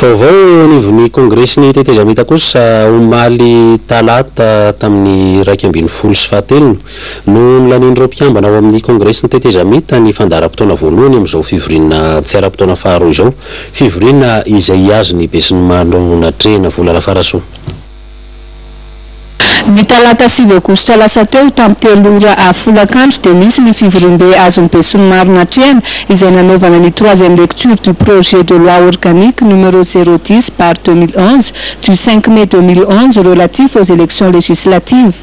Vaovao eo anivon'ny Kongresin'ny Tetezamita kosa, omaly talata tamin'ny iraika ambin'ny folo sy fahatelony no nolanian'ireo mpikambana ao amin'ny Kongresin'ny Tetezamita ny fandaharam-potoana voalohany amin'izao fivoriana tsy ara-potoana faharoa izao, fivoriana izay hihazo ny besinimaro natrehina volana farasoa. Ny talata sivy aogositra lasa teo, tamin'ny telo ora avy folakandro dia nisy ny fivoriambe azon'ny besinimaro natrehana izay nanaovana ny troisième lecture du projet de loi organique numéro zéro dix barre deux mille onze du cinq mai deux mille onze relatif aux élections législatives.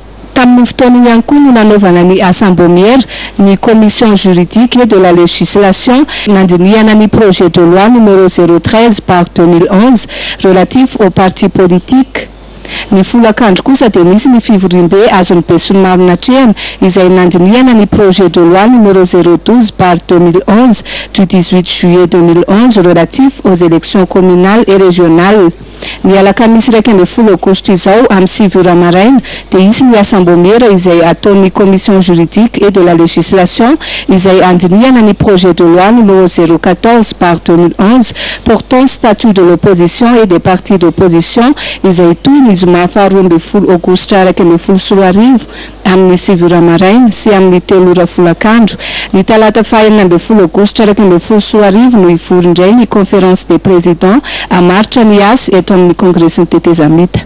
Tamin'io fotoana io ihany koa no nanaovana ny asam-bomiera ny Commission juridique et de la législation nandinihana ny projet de loi numéro zéro treize barre deux mille onze relatif aux partis politiques. Ny folakandro kosa dia nisy ny fivoriambe azon'ny besinimaro natrehana izay nandinihana ny projet de loi numéro zéro douze barre deux mille onze du dix-huit juillet deux mille onze relatif aux élections communales et régionales. Ny alakamisy iraika ambin'ny folo aogositra izao amin'ny sivy ora maraina dia hisy ny asambomera izay ataon'ny Commission juridique et de la législation izay handinihana ny projet de loi numéro zéro quatorze barre deux mille onze portant statut de l'opposition et des partis d'opposition izay hitohy ny zoma faharoa ambin'ny folo aogositra iraika ambin'ny folo sy roa arivo amin'ny sivy ora maraina sy amin'ny telo ora folakandro, ny talata fahenina ambin'ny folo aogositra iraika ambin'ny folo sy roa arivo no hivory indray ny Conférence des Présidents hamaritra ny asa eto amin'ny Kongresin'ny Tetezamita.